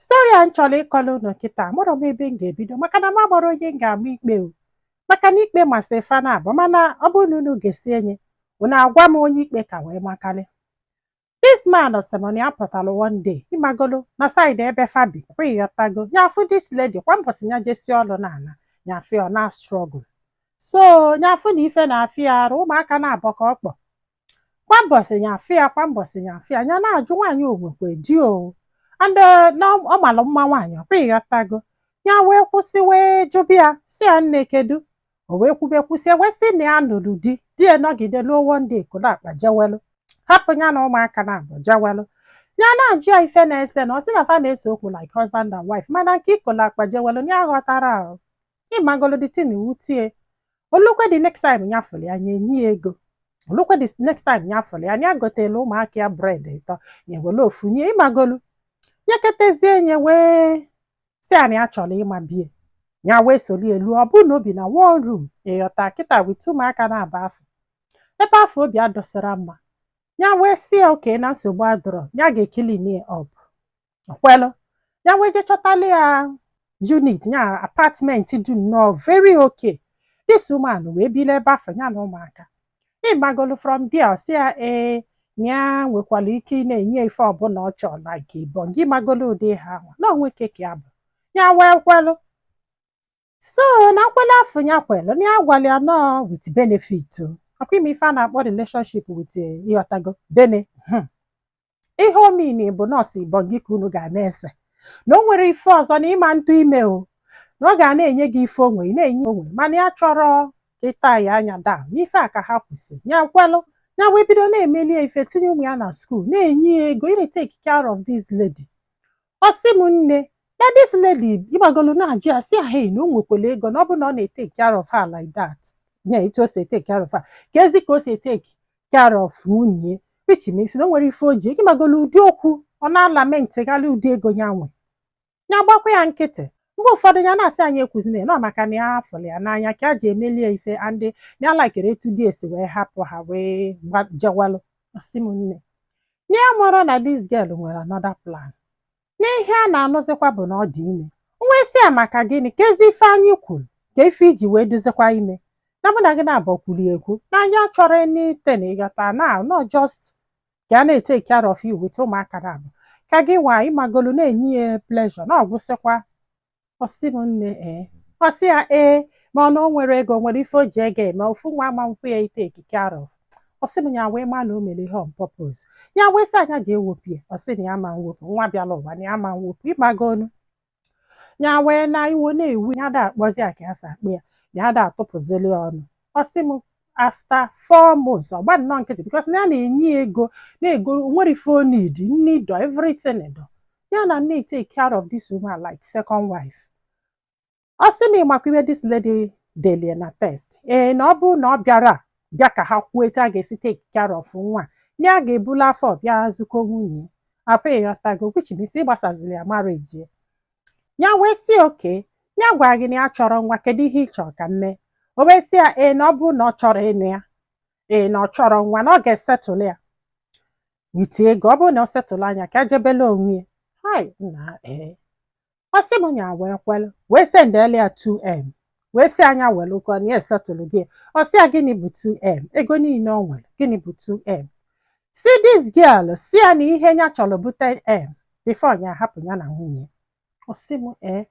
story a m chọrọ ịkọrọ unu kịta amarọ m ebe m ga-ebido maka na m amarọ onye m ga-ama ikpe o maka na ikpe masị fa naabọ mana ọ bụrụ na unu gesie ya unu agwa m onye ikpe ka wee makarị this man sị m na ya pụtara one day ị magolu na side ebe fa bi kwa ị ghọtago ya afụ this lady kwa mbọsị ya jesie ọrụ na-ana ya afụ ọ na-astruggle so ya afụ na ife na-afịa ya arụ ụmụaka naabọ ka ọ kpọ kwa mbọsị ya afụ ya kwa mbọsị ya afụ ya ya na-ajụ nwaanyị o nwekwe di o and eh, na ọ mara mma nwaanyị ọ kwa ị ghọtago ya wee kwụsị wee jụba ya sị ya nne kedu o wee kwube kwụsị wee sị na ya nụrụ di di ya nọgide ruo one day ekolo akpa jewelụ hapụ ya na ụmụaka naabọ jewelụ ya na-ajụ ya ife na-ese na ọ sị na fa na-ese okwu like husband and wife mana nke ikolo akpa jewelụ ya aghọtarọ ị magolu the thing ewute ya o lukwe the next time ya fụrụ ya ya enye ya ego o lukwe the next time ya fụrụ ya ya gotelu ụmụaka ya bread ịtọ ya were ofu nye ị magolu nyeketezie ya wee sị ya na ya chọrọ ịma be ya ya wee solie luo ọ bụrụ na o bi na one room ị ghọta kịta with ụmụaka naabọ afụ ebe afụ o bi adịsarọ mma ya wee sị ya okay na nsogbu adịrọ ya ga-eclean up ọ kwelụ ya wee je chọtalụ ya unit ya apartment dị nnọọ very okay this woman wee bili ebe afụ ya na ụmụaka ị magolu from there ọ sị ya ee na ya nwekwara ike ị na-enye ife ọbụla ọ chọrọ like ibon gị ị magolu ụdị ihe ahụ na onwe keke ya bụ ya wee kwelụ so na nkwelụ afụ ya kwelụ na ya gwara ya na ọ with benefit o. ọ kwa ị ma ife a na-akpọ relationship with eh, ị ghọtago bene Hmm. ihe ọ mean bụ na ọ sọ ibon gị ka unu ga na-ese na o nwerọ ife ọzọ na ị ma atụ ime o na ọ ga na-enye gị ife o nwe ị na-enye onwe mana ya achọrọ ka ịta ya anya daa n'ife a ka ha kwụsị ya kwelụ ya wee bido na-emelu ya ife tinye ụmụ ya na school na-enye ya ego na-etake care of this lady ọ sị m nne na this lady ị magolu na-ajụ ya sị ya hey na o nwekwara ego na ọ bụ na ọ na-etake care of her like that ya etu o si etake care of her keezi ka o si etake care of nwunye which means na o nwere ife o ji ị magolu ụdị okwu ọ na-alamentịgharị ụdị ego ya nwe ya gbakwa ya nkịtị mgbe ụfọdụ ya na-asị anyị ekwuzina ya na ọ maka na ya fụrụ ya n'anya ka ya ji emelu ya ife and na ya alikerọ etu di ya si wee hapụ ha wee gba- jewalụ ọ sị m nne na ya amarọ na this girl nwere another plan na ihe a na-anụzikwa bụ na ọ dị ime o wee sị ya maka gịnị keezi ife anyị kwuru kee ife i ji wee dịzikwa ime na mụ na gị naabọ kwuru ekwu na anyị achọrọ anything ị ghọta na ọ just ka a na-etake care of you with ụmụaka naabọ ka gị nwa ị magolu na-enye ya pleasure na ọ gwụsịkwa ọ sị m nne ee ọ sị ya ee ma ọ na o nwere ego o nwere ife o ji ego eme ofu nwa ama nkwụ ya itake care of ọ sị m ya wee ma na o mere ihe on purpose ya wee sị ya nya je wopụ ya ọ sị na ya ma nwopụ nwa bịala ụwa na ya ma nwopụ ịmagonu ya wee na iwo na-ewu ya ada akpọzi ya ka ya si akpọ ya ya ada atụpụzili ya ọnụ ọ sị m after four months ọ gba nnọọ nkịtị because na ya na-enye ya ego na-ego o nwere ife o need nne dọ everything dọ ya na-etake care of this woman like second wife ọ sị na ịmakwa ife this lady deli ya na text ee na ọ bụrụ na ọ bịarọ bịa ka ha kwuo etu a ga-esi take care of nwa na ya ga-ebulu afọ bịa zikwuo nwunye afọ ịghọtago which means ịgbasaziri ya marriage ya ya wee sị okay ya gwara gị na ya chọrọ nwa kedu ihe ị chọrọ ka m mee o wee sị ya ee na ọ bụrụ na ọ chọrọ ịnụ ya ee na ọ chọrọ nwa na ọ ga-esettle ya with ego ọ bụrụ na ọ settle ya nya ka ejebele onwe ya hai nna ee ọ sị m nya wee kwelụ wee sendele ya 2m wee sị ya nya werekwa na ya esettle gị ọ sị ya gịnị bụ 2m ego niile ọ nwere gịnị bụ 2m sị this girl sị ya na ihe ya chọrọ bụ 10m before ya hapụ ya na nwunye ọ sị m ee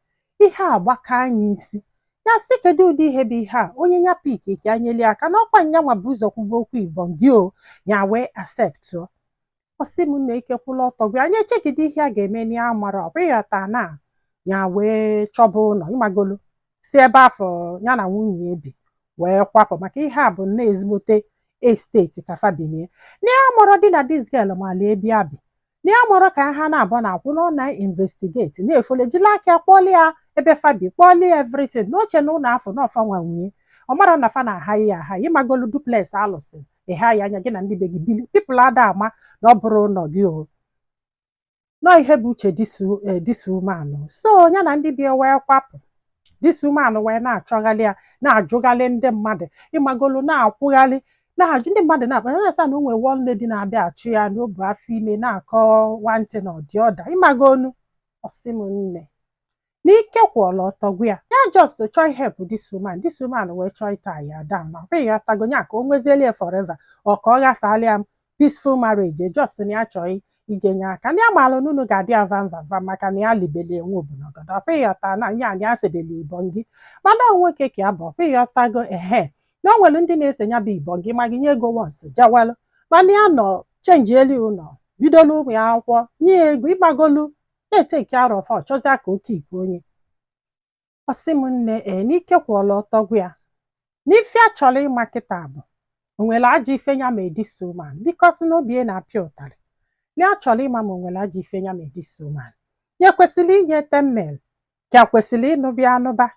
ihe a gbaka nya isi ya sị kedu ụdị ihe bụ ihe a onye ya pick ka enyeli aka n'ọkwa nya nwa bu ụzọ kwuba okwu ibom gị o ya wee acceptụọ ọ sị m na ike kwụla ọtọ gwụ ya nya echegide ihe a ga-eme na ya amarọ ọkwa ịghọta na ya wee chọba ụlọ ịmagolu si ebe afụ ya na nwunye ya bi wee kwapụ maka ihe a bụ nne ezigbote estate ka fa bi nie na ya amarọdị na this girl mala ebe ya bi na ya amarọ ka ha na-abụ na akwụ na ọ na-investigate na-efollow ya jila aka kpọli ya ebe fa bi kpọli ya everything na o che na ụlọ afụ na ọ fa nwa nwe ya ọ marọ na fa na-ahire ya ahire ịmagolu duplex alụsịa ị hire nanị gị na ndị be gị bili people ada ama na ọ bụrọ ụlọ gị o nọ ihe bụ uche this woman so ya na ndị be ya wee kwapụ this woman wee na-achọgharị ya na-ajụgharị ndị mmadụ ịmagolu na-akwụgharị na-ajụ ndị mmadụ na-akpọ ya na-asị ya na o nwere one lady na-abịa achọ ya na o bu afọ ime na-akọ one thing and the other ịmagonu ọ sị m nne n'ike kwụla ọtọ gwụ ya ya just chọọ help this woman this woman wee chọọ ịtie ya down na ọkwa ịghọtago ya ka o nwezieli ya forever or ka ọ ghasala ya peaceful marriage e just na ya chọọ ije nye aka ndị amaala n'unu ga-adị ya vamvamva maka na ya libeli enwe obunogodo ọkwa ịghọta na ya anyị asebeli ibon gị mana nwoke ka ya bụ ọkwa ịghọtago ehe na o nwere ndị na-ese ya bụ ibongi ma gị nye ego wọs jawalụ mana ya nọ chenjielu ụlọ bidolu ụmụ ya akwụkwọ nye ya ego ịgbagolu na-eteki care of ya ọ chọzịa ka oke ibu onye ọ sị m nne ee n'ike kwụọla ọtọ gwa ya n'ife a chọrọ ịma kịta bụ o nwere ajọ ife ya mee this woman bikos na obi ya na-apịa ụtarị na ya chọrọ ịma ma o nwere ajọ ife ya mee this woman ya kwesịrị inye 10 mil ka ya kwesịrị ịnụba ya anụba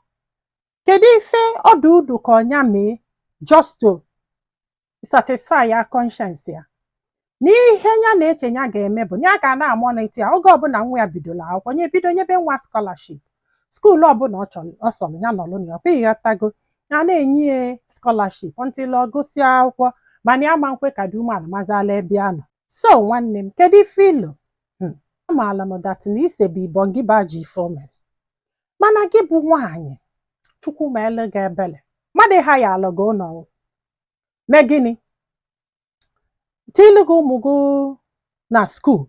Kedu ife ọdụ udu ka nya mee just to satisfy ya conscience ya na ihe ya na-eche ya ga-eme bụ na ya ga na-amonitor ya oge ọbụla nwa ya bidola akwụkwọ nya ebido nyebe nwa scholarship skuul ọbụla ọ chọrọ ọ sọrọ ya nọrọ na ya ọkwa ịghọtago a na-enye ya scholarship until ọ gụsịa akwụkwọ mana ya ma nkwe ka the woman mazala ebe ya nọ so nwanne m kedu ife i lo amaala m dat na isebe ibongi bụ ajọ ife o mere mana gị bụ nwaanyị chukwu meelu gị ebele mmadụ hayaalụ gị ụlọ mee gịnị tilu gị ụmụ gị na skuul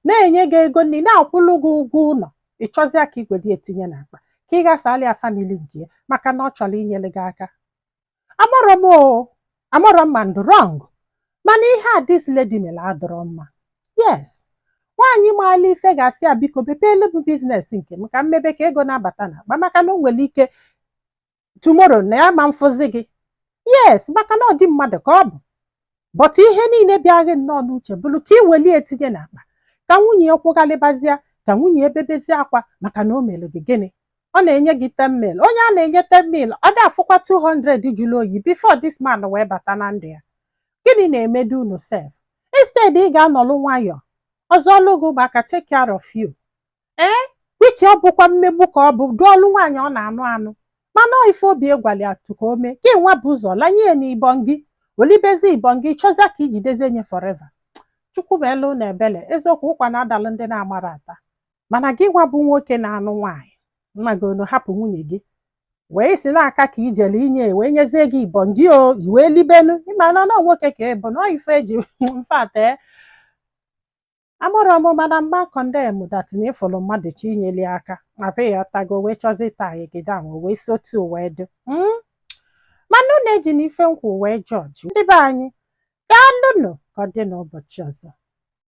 na-enye gị ego nri na-akwụlụ gị ụgwọ ụlọ ị chọzịa ka i wedi ya tinye n'akpa ka ị ghasala ya famili nke ya maka na ọ chọrọ inyere gị aka amarọ m o amarọ m ma m dụ wrong mana ihe a dis lady mere adịrọ mma yes nwaanyị maala ife ga-asị ya biko bepeelu m biznes nke m ka m mebe ka ego na-abata n'akpa maka na o nwere ike tumoro na ya ma mfụzi gị yes maka na ọ di mmadụ ka ọ bụ but ihe niile bịa gị nnọọ n'uche bụrụ ka ị weli ya tinye n'akpa ka nwunye ya kwụgharịbazịa ka nwunye ya ebebezie akwa maka na o mere gị gịnị ọ na-enye gị 10 mil onye a na-enye 10 mil ọ da-afụkwa 200 jụrụ oyi before this man wee bata na ndụ ya gịnị na-emedu unu sef instead ị ga-anọlụ nwayọọ ọ zụọlụ gị ụmụaka take care of you ee which ọ bụkwa mmegbu ka ọ bụdụụlụ nwaanyị ọ na-anụ anụ mana ọ ife obi ya gwali ya tụ ka o mee gị nwa bu ụzọ lanye ya n'ibongi o libezi ibongi chọzia ka i jidezie nye forever chukwu meelu unu ebele eziokwu ụkwa na-adalụ ndị na-amarọ ata mana gị nwa bụ nwoke na-anụ nwaanyị nna gị onu hapụ nwunye gị wee sị na aka ka i jele inye wee nyezie gị ibongi o i wee libenu ị ma na ọ nwoke ka ị bụ na ọ ife eji mfate amarọ m mana m ga-akọndem dat na ị fụlụ mmadụ chọ inyeli aka ma be ya tago wee chọzi ịta egede ahụ wee si otu o wee dị Mm. mana unu ejina ife m kwu wee jọji ndị be anyị daalụnụ ka ọ dị n'ụbọchị ọzọ